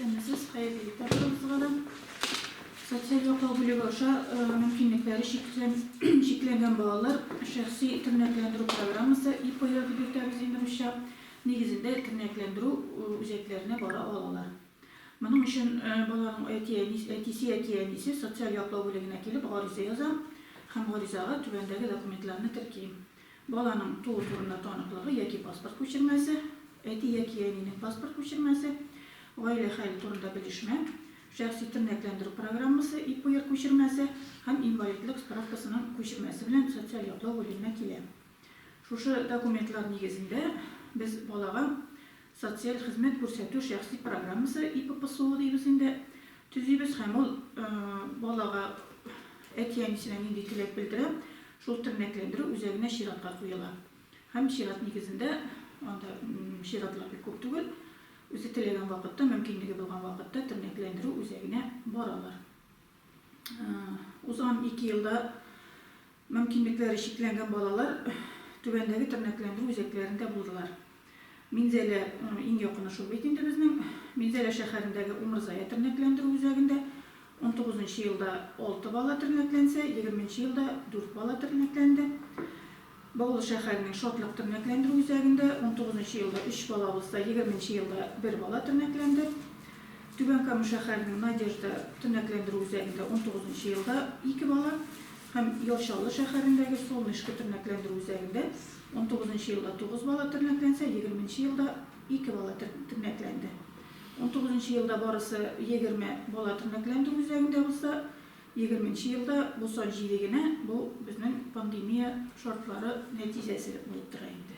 Исәнмесез, хәерле иртә барыгызга да. Социаль яклау бүлеге аша мөмкинлекләре чикләнгән балалар шәхси тернәкләндерү программасы, ИПОЯ дип йөртәбез инде русча, нигезендә тернәкләндерү үзәкләренә бара алалар. Моның өчен баланың әтисе яки әнисе социаль яклау бүлегенә килеп гариза яза һәм гаризага түбәндәге документларны терки. Баланың туу турында таныклыгы яки паспорт күчермәсе, әти яки әнинең паспорт күчермәсе, гаилә хәле турында белешмә, шәхси тернәкләндерү программасы, ИПР күчермәсе һәм инвалидлык справкасының күчермәсе белән социаль яклау бүлегенә килә. Шушы документлар нигезендә без балага Социаль хезмәт күрсәтү шәхси программасы ИППСО дибез инде, төзибез һәм ул балага, әти-әнисенә нинди теләк белдерә, шул тернәкләндерү үзәгенә чиратка куела һәм чират нигезендә, анда чиратлар бик күп түгел, үзе теләгән вакытта, мөмкинлеге булган вакытта тернәкләндерү үзәгенә баралар. Узган ике елда мөмкинлекләре чикләнгән балалар түбәндәге тернәкләндерү үзәкләрендә булдылар. Минзәлә иң якыны шул бит инде безнең. Минзәлә шәһәрендәге Умырзая тернәкләндерү үзәгендә унтугыз нчы елда алты бала тернәкләнсә, егерме нче елда дүрт бала тернәкләнде. Баулы шәһәренең Шатлык тернәкләндерү үзәгендә унтугыз нчы елда өч бала булса, егерме нче елда бер бала тернәкләнде. Түбән Кама шәһәренең Надежда тернәкләндерү үзәгендә унтугыз нчы елда ике бала һәм Яр Чаллы шәһәрендәге Солнышко тернәкләндерү үзәгендә унтугыз нчы елда тугыз бала тернәкләнсә, егерме нче елда ике бала тернәкләнде. Унтугыз нчы елда барысы егерме бала тернәкләндерү үзәгендә булса, Егерменче елда бу сан җиде генә, бу безнең пандемия шартлары нәтиҗәсе булып тора инде.